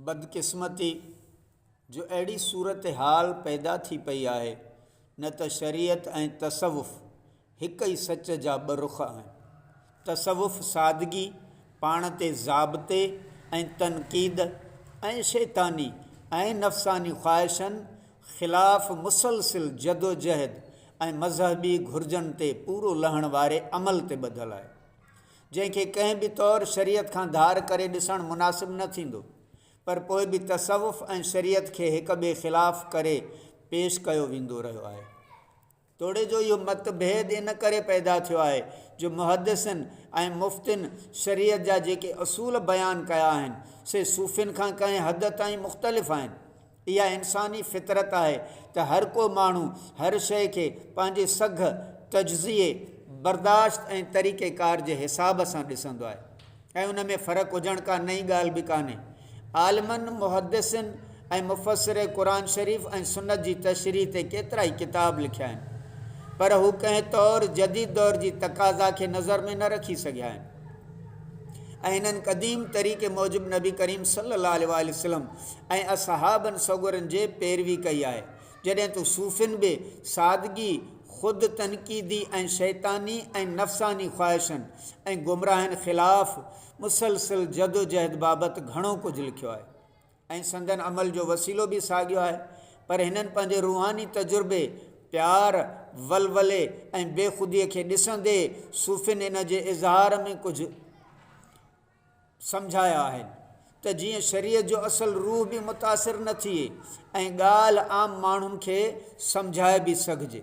بدقسمتي جو اهڙي صورتحال پيدا ٿي پئي آهي، نه ته شريعت ۽ تصوف هڪ ئي سچ جا ٻه رخ آهن. تصوف سادگي، پاڻ تي ضابطي ۽ تنقيد، ۽ شيطاني ۽ نفساني خواهشن خلاف مسلسل جدوجهد ۽ مذهبي گهرجن تي پورو لهڻ واري عمل تي ٻڌل آهي. جنهن کي ڪنهن به طور شريعت کان ڌار ڪري ڏسڻ مناسب نه ٿيندو، پر پوء به تصوف ۽ شريعت کي هڪ ٻئي خلاف ڪري پيش ڪيو ويندو رهيو آهي. توڙي جو اهو مت ڀيد ان ڪري پيدا ٿيو آهي جو محدثن ۽ مفتين شريعت جا جيڪي اصول بيان ڪيا آهن، سي صوفين کان ڪنهن حد تائين مختلف آهن. اها انساني فطرت آهي ته هر ڪو ماڻهو هر شيء کي پنهنجي سگهه، تجزيي، برداشت ۽ طريقيڪار جي حساب سان ڏسندو آهي ۽ ان ۾ فرق هجڻ ڪا نئين ڳالهه به ڪانهي. عالمن، محدثن ۽ مفسر قرآن شريف ۽ سنت جي تشريح تي ڪيترائي ڪتاب لکيا آهن، پر هو ڪنهن طور جديد دور جي تقاضا کي نظر ۾ نه رکي سگهيا آهن ۽ انهن قديم طريقي موجب نبي ڪريم صلي الله عليه واٰله وسلم ۽ اصحابن سڳورن جي پيروي ڪئي آهي، جڏهن ته صوفين به سادگي، خود تنقيدي ۽ شيطاني ۽ نفساني خواهشن ۽ گمراهين خلاف مسلسل جدوجهد بابت گهڻو ڪجهه لکيو آهي ۽ سندن عمل جو وسيلو به ساڳيو آهي پر هنن پنهنجي روحاني تجربي، پيار، ولولي ۽ بيخوديء کي ڏسندي صوفين ان جي اظهار ۾ ڪجهه. سمجهايا آهن ته جيئن شريعت جو اصل روح به متاثر نه ٿئي ۽ ڳالهه عام ماڻهن کي سمجهائي به سگهجي.